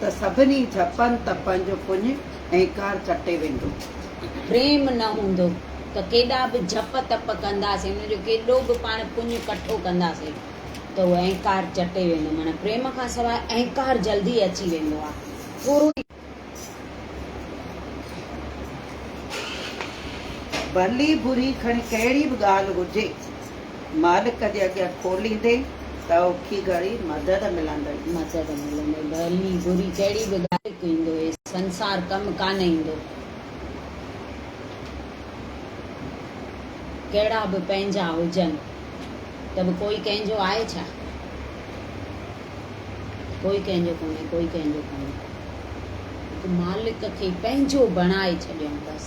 ته سڀني جهپن تپن جو پڃ ۽ ڪار ڪٽي ويندو. پريم نه هوندو ته ڪيڏا به جهپ تپ ڪنداسين، ان جو ڪيڏو به پاڻ پڃ ڪٺو ڪنداسين ته اهو اهنڪار چٽي ويندو. معنيٰ پريم کان سواء اهنڪار جلدي اچي ويندو آهي. ٿورو ئي. ڀلي بري کڻي ڪهڙي به ڳالهه هجي. مالڪ جي اڳيان کوليندي ته اوکي گهڙي مدد ملندئي. مدد ملندئي. ڀلي بري ڪهڙي به ڳالهه ڪيندو هي سنسار ڪم ڪانه ايندو. ڪهڙا به پنهنجا هجن ته به ڪوئي ڪنهن جو آهي ڇا؟ ڪوئي ڪنهن جو ڪونهي. ڪوئي ڪنهن جو ڪونهي. هڪ مالڪ کي پنهنجو بڻائي ڇڏيائون بس.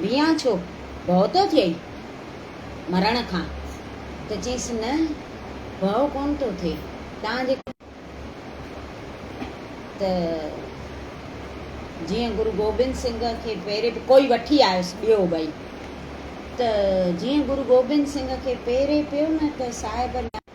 بيان ڇو ڀؤ ٿو ٿئي مرڻ کان؟ ته چيس نه ڀؤ ڪونه ٿو ٿئي تان جي ڪري ته جيئن گرو گوبند سنگهه کي پهري به ڪوئي وٺي آيس ٻيو ٻئي ته جيئن گرو گوبند سنگهه کي پهري پيو نه ته صاحب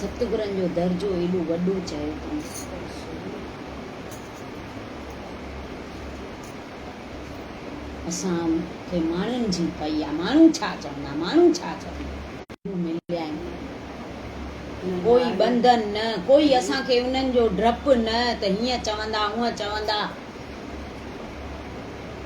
ستگرن جو درجو ايڏو وڏو چيو تون. اسان کي ماڻهن جي پئي آ. ماڻهو ڇا چوندا ماڻهو ڇا چوندا. ڪو مليائين نه ڪوئي ٻنڌن نه ڪوئي اسان کي انهن جو ڊپ نه ته هيئن چوندا هونئن چوندا.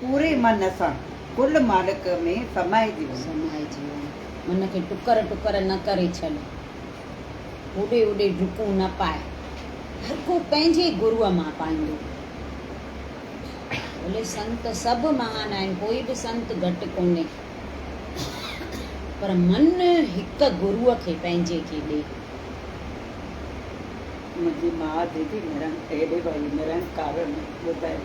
پوري من سان ڪل مالڪ ۾ سمائجي وڃ. سمائجي وڃ. من کي ٽڪر ٽڪر نه ڪري ڇڏ. هوڏي هوڏي ڊڪون نه پاء. هر ڪو پنهنجي گروء مان پائيندو. ڀلي سنت سڀ مهان آهن، ڪوئي به سنت گهٽ ڪونهي. پر من هڪ گروء کي پنهنجي کي ڏي. منهنجي ماء ديدي نرنڪاري ۾ ٻڌايو.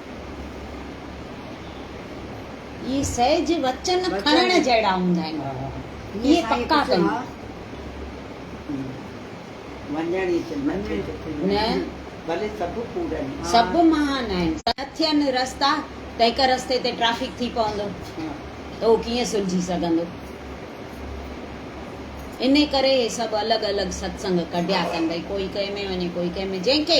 اهي سهج وچن کڻڻ جهڙا هوندا آهن. اهي پڪا ڪن. نه سڀ مهان آهن. نه ٿين رستا ته هڪ رستي تي ٽريفڪ ٿي پوندو ته اهو ڪيئن سلجهي سگهندو. انهي ڪري اهي سڀ الڳ الڳ ستسنگ ڪڍيا ڪن. ڀئي ڪوئي ڪنهن ۾ وڃي ڪوئي ڪنهن ۾. جنهن کي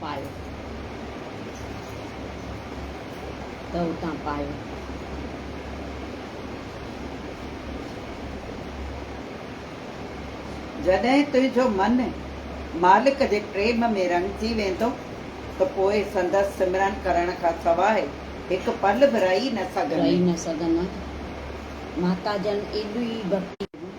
پايو ته اتان پايو. جڏهن تنهنجو من مالڪ جي پريم ۾ رڱجي ويندو ته پوء سندس سمرن ڪرڻ کان سواء هڪ پل به رهي نه سگهندين. محتاجن ايڏي ڀڪتي.